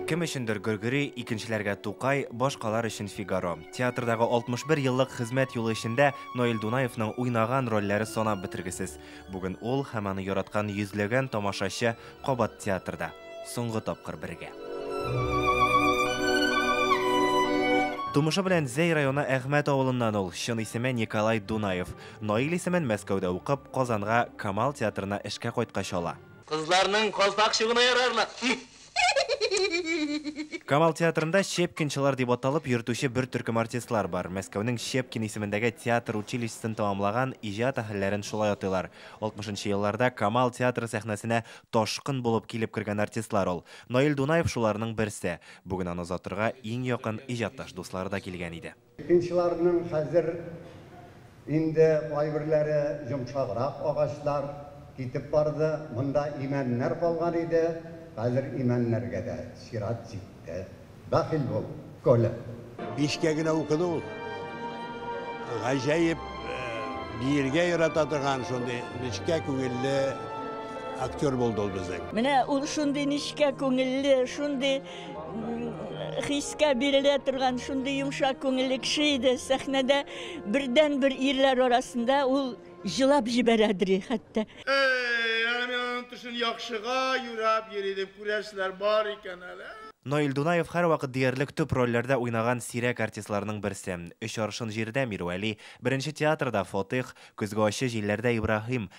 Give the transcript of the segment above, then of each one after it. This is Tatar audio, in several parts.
Кем өчендер Гөргөри, икенчеләргә Тукай, башкалар өчен Фигаро. Театрдагы 61 еллык хезмәт юлы эчендә Наил Дунаевның уйнаган рольләре санап бетергесез. Бүген ул һәм аны яраткан йөзләгән тамашачы кабат театрда. Соңгы тапкыр бергә. Тумышы белән Зәй районы Әхмәт авылыннан ул, чын исеме Николай Дунаев. Наил исемен Мәскәүдә укып, Казанга Камал театрына эшкә кайткач ала. Кызларның калфак чугына ярарлык. Камал театрында Щепкинчылар дип аталып йөртүче бер төркем артистлар бар. Мәскәүнең Щепкин исемендәге театр училищесын тәмамлаган, иҗат әһелләрен шулай атыйлар. Алтмышынчы елларда Камал театры сәхнәсенә ташкын булып килеп кергән артистлар ул. Наил Дунаев шуларның берсе. Бүген аны озатырга иң якын иҗатташ дуслары да килгән иде. Пекинчыларның хәзер инде кайберләре йомшаграк агачлар китеп барды, монда имәннәр калган иде, хәзер имәннәргә дә чират җитте. Бәхил бул, Коля! Бишкә генә укыды ул. Гаҗәеп биергә ярата торган шундый нечкә күңелле актер булды ул безнең. Менә ул шундый нечкә күңелле, шундый. хискә бирелә торган шундый йомшак күңелле кеше иде. Сәхнәдә бердән-бер ирләр арасында ул җылап җибәрәдри хәтта. Әй, әни аның төшен яхшыга юрап йөри дип күрәселәр бар икән әле. Наил Дунаев һәрвакыт диярлек төп рольләрдә уйнаган сирәк артистларның берсе. Өч аршын җирдә, Мирвәли, Беренче театрда, Фатыйх, Көзге ачы җилләрдә, Ибраһим,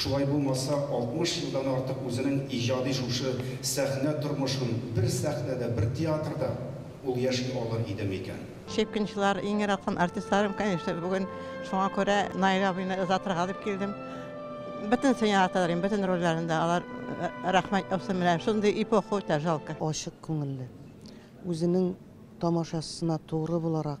Шулай булмаса, 60 елдан артык үзенең иҗади шушы сәхнә тормышын бер сәхнәдә, бер театрда ул яши алыр иде микән? Щепкинчылар, иң яраткан артистларым, конечно, бүген шуңа күрә Наил абыйны озатырга дип килдем. Бөтенесен яраталар инде, бөтен рольләрен дә алар рәхмәт яусын, менә шундый эпоха үтә, жалко. Ачык күңелле, үзенең тамашачысына тугры буларак,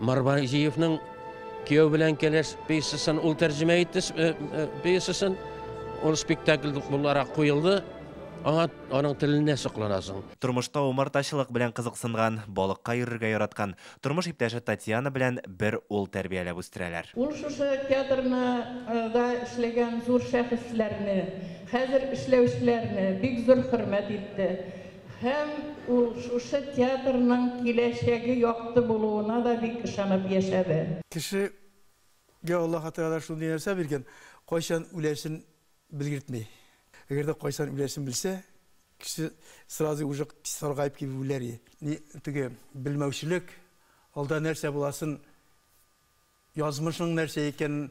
Марбаҗиевның Кияү белән кәләш пьесасын ул тәрҗемә итте э, э, пьесасын. Ул спектакль буларак куелды. Аңа аның теленә сокланасың. Тормышта умартачылык белән кызыксынган, балыкка йөрергә яраткан, тормыш иптәше Татьяна белән бер ул тәрбияләп үстерәләр. Ул шушы театрны э, да эшләгән зур шәхесләрне, хәзер эшләүчеләрне бик зур хөрмәт итте. Һәм ул шушы театрның киләчәге якты булуына да бик ышанып яшәде. Кешегә Аллаһы Тәгалә шундый нәрсә биргән, кайчан үләсен белгертми. Әгәр дә кайчан үләсен белсә, кеше сразу уже саргаеп килеп үләр иде. Ни теге белмәүчелек, алда нәрсә буласын, язмышың нәрсә икәнен.